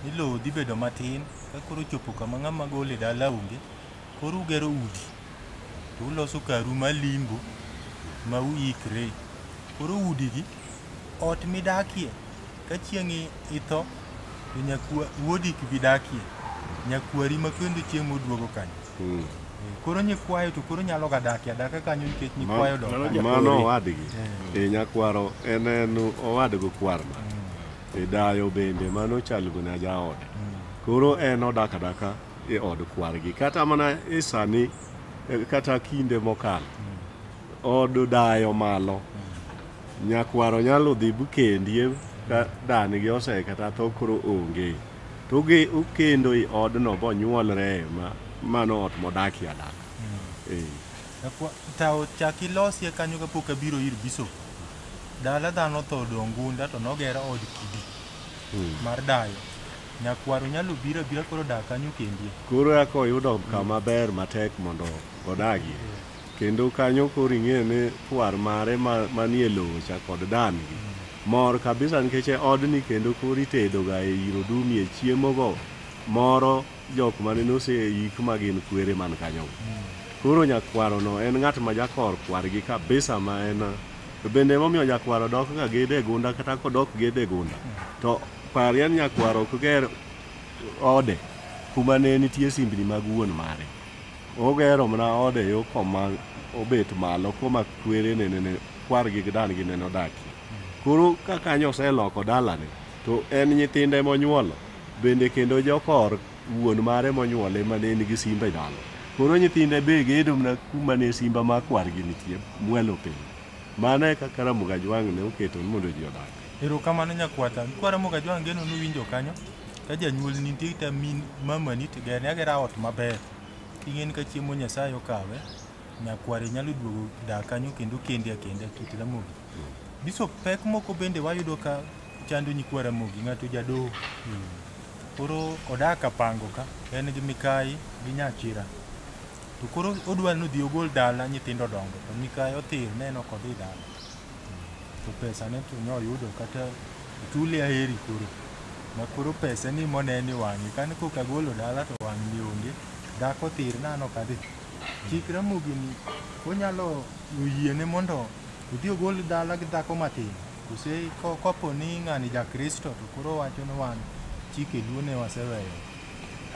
ni lowo dhi bedo matin ka koro ochopo kama ng'ama gole dala onge koro ugero udi to uloso karu malimbo ma uikre koro udigi ot midakie ka chieng' i- itho to nyakwa wuodi kibidakie nyakwari ma kendo chieng' moduogo kanyo Mm. Koro nyikwayo to koro nyalo ga dakia daka kanyo nikech nyikwayo dok. Mano- Mano owadgi. Eh. E nyakwaro en en owadgo kwarna. E dayo bende mano chalgo na jaode. Koro en odak adaka e od kwargi. Kata mana e sani eh, kata kinde mokalo. Od dayo malo. Nyakwaro nyalo dhi bukendi ka danigi ose kata tho koro onge. To gi ukendo i odno bonyuolre ma mano ot modakie adaka. Eh. Akwa- Tawo chak ilosie kanyo kapok abiro ir bishop. Dala dhano tho odong' gunda to nogero od kidi Mm. mar dayo. Nyakwaro nyalo biro abira koro dak kanyo kendie. Koro aka oyudo kama ber matek mondo odagie. Kendo kanyo koro ing'e ni kwar mare ma- manie lowo cha kod dan gi mor kabisa nikech e odni kendo koro itedoga e iro dumie chiemogo moro jok mane noseik ma gin kwere man kanyogo koro nyakwarono en ng'at ma jakor kwargi kabisa ma en to bende emomiyo nyakwaro dok ga gede e gunda kata kodok gede e gunda to parie ni nyakwaro ok ger ode kuma ne nitie simbni mag wuon mare Ogero mana ode yo koma obet malo koma kwere ne nene kwar gi dan gi neno daki. Koro ka kanyo oseloko dalane to en nyithinde monyuolo bende kendo jokor wuon mare monyuole ma ne nigi simba e dala. Koro nyithinde be gedo mana kuma ne simba ma kwargi nitie mwalo piny. Mano e kaka Ramogi Ajwang' ne oketo ni mondo ji odag. Erokamano nyakwata. Kwa Ramogi Ajwang' geno ni uwinjo kanyo. Ka janyuolni nitie kata min mamani to gerne agera ot maber. King'eni ka chiemo Nyasaye okawe, nyakware nyalo duogo dak kanyo kendo kendi akenda kit Ramogi. Bishop pek moko bende wayudo ka chando nyikwa Ramogi, ng'ato jadoho. Koro odak Apango ka, en gi mikayi gi nyachira. To koro odwa ni odhi ogol dala nyithindo odongo to mikayi othir ne en ok odhi dala. to pesa ne to noyudo kata tuli aheri koro ma koro pesa ni mone ni wang'e kane koka golo dala to wang'ni onge dhako thir nano kadhi chik ramogi ni onyalo oyiene mondo odhi ogol dala gi dhako matin kose ko- kopo ni ng'ani ja kristo to koro wacho ni wan chike luo ne waseweyo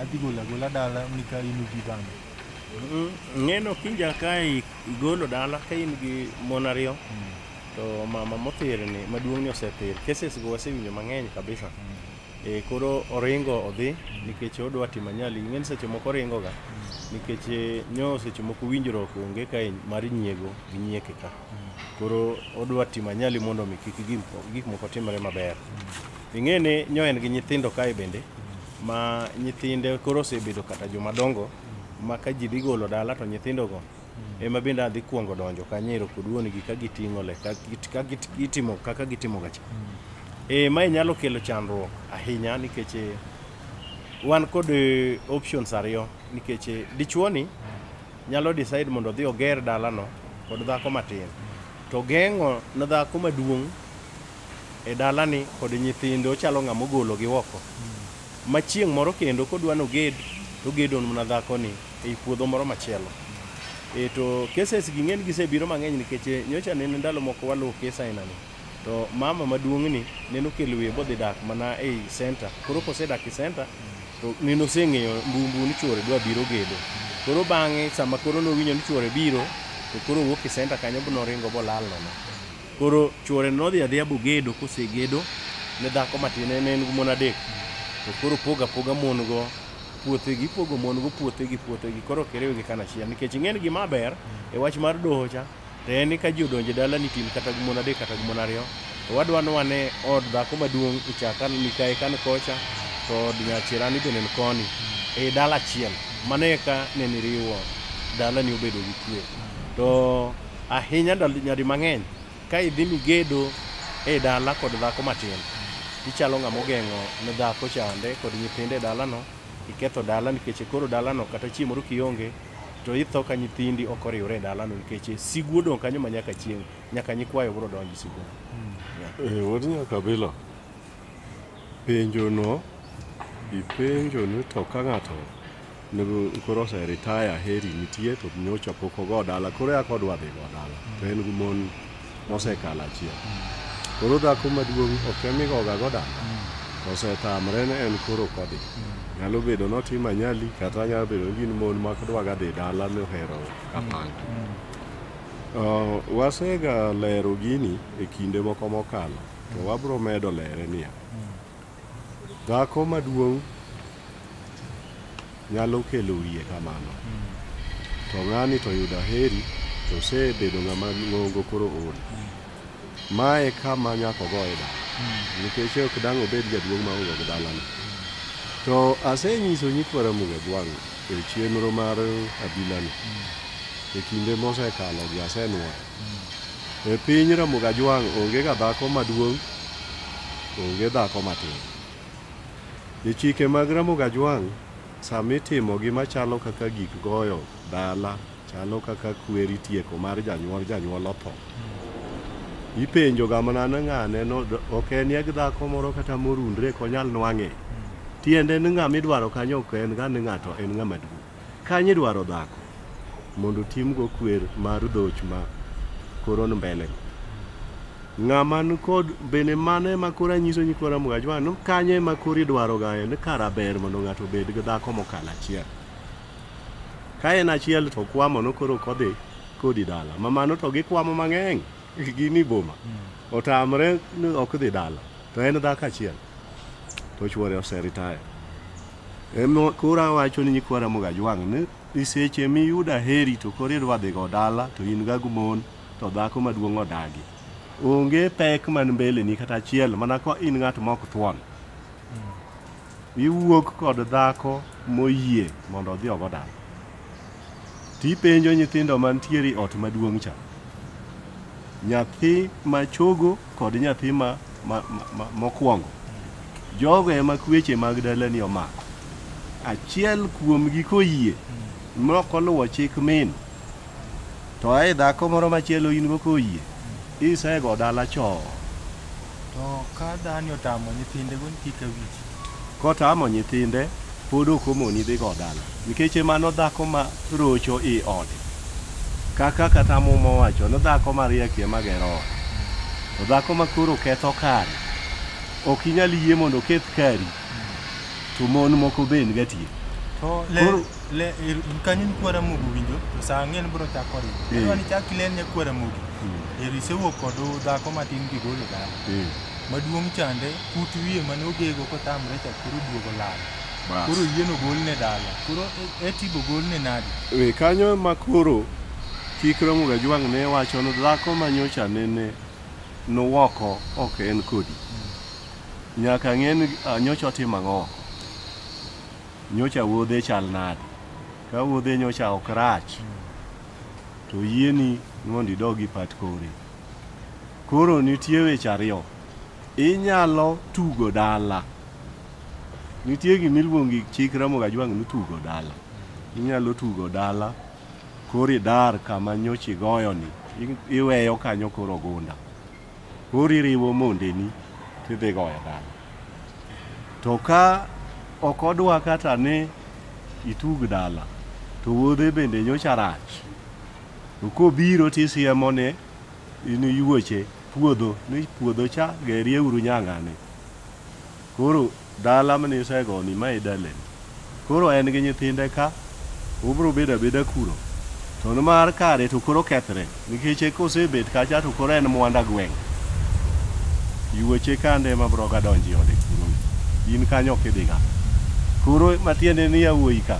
adhi golo agola dala nika in ubi bang'e Ng'eno kinja kae Igolo dala ka in gi mon ariyo to mama mothirni maduong'ni osethir. Cases go wasewinjo mang'eny kabisa. E, koro oringo odhi nikech odwa timo anyali. Ing'eni seche moko oringo ga nikech e, nyo seche moko winjruok onge ka en mar nyiego gi nyieke ka. Koro odwa timo anyali mondo mi kik gik mo- gik moko timre maber. Ing'eni nyo en gi nyithindo kae bende ma nyithinde koro osebedo kata joma dongo ma ka ji dhi golo dala to nyithindogo ema bende adhi kwongo donjo kanyero kod wuonigi ka giting'o le ka git- ka git- gitimo kaka gitimo gacha e, mae nyalo kelo chandruok ahinya nikech eh, wan kod eh, options ariyo nikech eh, dichuoni nyalo decide mondo odhi oger dalano kod dhako matin to geng'o ne dhako maduong' e dalani kod nyithinde ochalo ng'ama ogologi oko ma chieng' moro kendo kodwa noged togedo mana dhakoni ei puodho moro machielo e to cases gi ng'eny gisebiro mang'eny nikech eh, nyocha nene ndalo moko waluwo kes ainani to mama maduong'ni nene okelo wiye bodhi dak mana ei center koro kosedak e center to nene oseng'eyo mbumbu ni chuore dwa biro gedo koro bang'e sama koro nowinjo ni chuore biro to koro owuok e center kanyo bonoringo bolal nono Koro chuore nodhi adhiya bogedo kosegedo ne dhako matin en en gi mon adek to koro poga poga mon go puothegi ipogo mon go puothegi puothegi koro ok iriwgi kanachiel nikech ing'e ni gima ber e wach mar doho cha to en ni ka ji odonjo e dala ni tin kata gi mon adek kata gi mon ariyo to wadwa ni wane od dhako maduong' ichaka mikae kan kocha to od nyachirani bende ni koni e dala achiel mano eka ne niriwo dalani obedo gi kwe to Ahinya ndalo nyadi mang'eny ka idhi migedo e dala kod dhako matin, ichalo ng'ama ogeng'o ne dhako chande kod nyithinde e dalano, iketho dala nikech koro dalano kata chieng' moro kionge to itho ka nyithindi ok oriwre e dalano nikech sigu odong' kanyo ma nyaka chieng' nyaka nyikwayo biro donjo sigu. Eh, wuod Nyakabila, penjono ipenjoni to ka ng'ato Nego koro ose retire heri nitie to nyocha pok ogo dala koro yak odwa dhi go dala to en gi mon mosekalo achiel koro dhako maduong' ok emigoga go dala osetamre ne en koro kodhi nyalo bedo notimo anyali kata nyalo bedo ni gin mon ma dwaga dhi dala ni ohero kapanga Uh, wasega lero gini e kinde moko mokalo to wabro medo lere niya Dhako maduong' nyalo kelo wiye kamano. To ng'ani to yudo aheri to osebedo ng'ama ng'ongo koro ool. Ma e kama nyaka ogoye dala. Nikech ok dang' obed jaduong' maonge gi dalane. To asenyiso nyikwa Ramogi Ogwang' e chenro mar abilani e kinde mosekalo gi asenwoyo. E piny Ramogi Ajwang' onge ga dhako maduong', onge dhako matin. E chike mag Ramogi Ajwang' sama itimo gi machalo kaka gik goyo dala, chalo kaka kweri tieko mar janyuol, janyuol otho. Ipenjo ga mana ni ng'ane no ok en yag dhako moro kata morundre konyal nwang'e. Tiende ni ng'ama idwaro kanyo ok en ga ni ng'ato en ng'ama duong'. Kanye dwaro dhako mondo timgo kwer mar dhoch ma koro ni mbele ng'ama ni kod bende mane ma koro anyiso ni koro amwacho ma ni kanye ma koro idwaro ga en kara ber mondo ng'ato obed gi dhako mokalo achiel ka en achiel to kwamo no koro kodhi kodi dala ma mano to gikwamo mang'eny gini boma otamre ni ok dhi dala to en dhako achiel to chuore oseritaya Emo koro awacho ni nyikwa Ramogi Ajwang' ni i seche miyudo aheri to koro idwa dhigo dala to in ga gumon to dhako maduong' odagi. Onge pek man mbele ni kata achiel mana ka in ng'at ma ok thuon. Iwuok kod dhako moyie mondo odhi ogo dala. Tipenjo nyithindo mantiere e ot maduong' cha. Nyathi ma chogo kod nyathi ma, ma, ma, ma mokwongo jogo ema kweche mag dalani omako achiel kuomgi koyie mok oluwo chik min to ae dhako moro machielo in go koyie isego dala choo To ka dhani otamo nyithinde go kik awich. Kotamo nyithinde, pod ok omoni dhigo dala nikech mano dhako ma rocho i ode. Kaka kata muma owacho ni dhako mariek ema gero ode. To dhako ma koro ketho kare, ok inyal yie mondo oketh kari, to mon moko be en gatier. To le, Koro- le, ir- kanyo ni kwara mogo winjo, to sa ang'en bro chako riwo. Eh. Koro ni chak ilen ne kwara mogo. Eri isewuok kod dhako matin gigolo dala. Eh. Maduong' chande kut wiye mane ogego kotamre cha koro duogo lal Bas. koro yieno golne dala koro e- etibo golne nadi E, kanyo ema koro chik Ramogi Ajwang' ne wacho ni dhako ma nyocha nene nowoko ok en kodi. Nyaka ng'e ni ah, nyocha otimo ang'o. Nyocha wuodhe chal nade. Ka wuodhe nyocha ok rach to yieni mondo idog ipat kore. Koro nitie weche ariyo. Inyalo tugo dala. Nitie gima iluongo gi chik Ramogi Ajwang' ni tugo dala. Inyalo tugo dala, koro idar kama nyocha igoyoni, i- iweyo kanyo koro ogunda. Koro iriwo mondeni tidhi goyo dala. To ka ok odwa kata ni itug dala, to wuodhe bende nyocha rach. To kobiro tisiemone in yuoche puodho ni puodho cha gerie uru nyang'ani koro dala mane isegoni ma idalen koro en gi nyithinde ka obro bedo abeda kuro to nimar kare to koro kethre nikech kosebet kacha to koro en mwanda gweng' yuoche kande ma broga donji ode kuro in kanyo ok idhiga koro matiende ni yawuoyi ka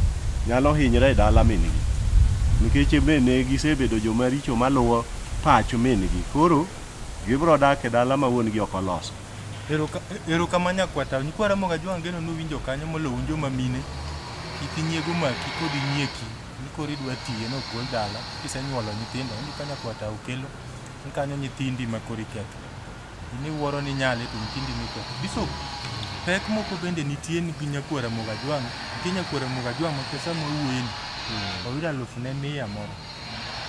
nyalo hinyre e dala min-gi nikech bende gisebedo joma richo maluwo pacho min gi koro gibro dak e dala ma wuon gi ok oloso. Ero kama nyakwata, nyikwa Ramogi Ajwang' ageno ni uwinjo kanyo moloyo un joma mine, kik inyiego omaki kod inyieki ni koro idwa tiye ni ogol dala kisenyuolo nyithindo. Onge ka nyakwata Okello ni kanyo nyithindi ma koro iketho. In iwuoro ni inyale to nyithindi ema iketho. Bishop, pek moko bende nitie ni gi nyakwa Ramogi Ajwang', nitie nyakwa Ramogi Ajwang' ma pesa mowuoyeni oyudo aluf ne mia moro.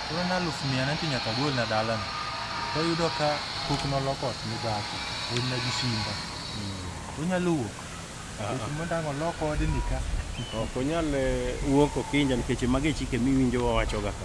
Koro en aluf mia nenti nyaka golna dalano. To yudo ka pok noloko ot ne dhako, olna gi simba. Onyalo wuok. Nikech mondo ang' olok odni ka. Ok onyal eh, wuok okinja nikech magi e chike miwinjo wawachoga ka.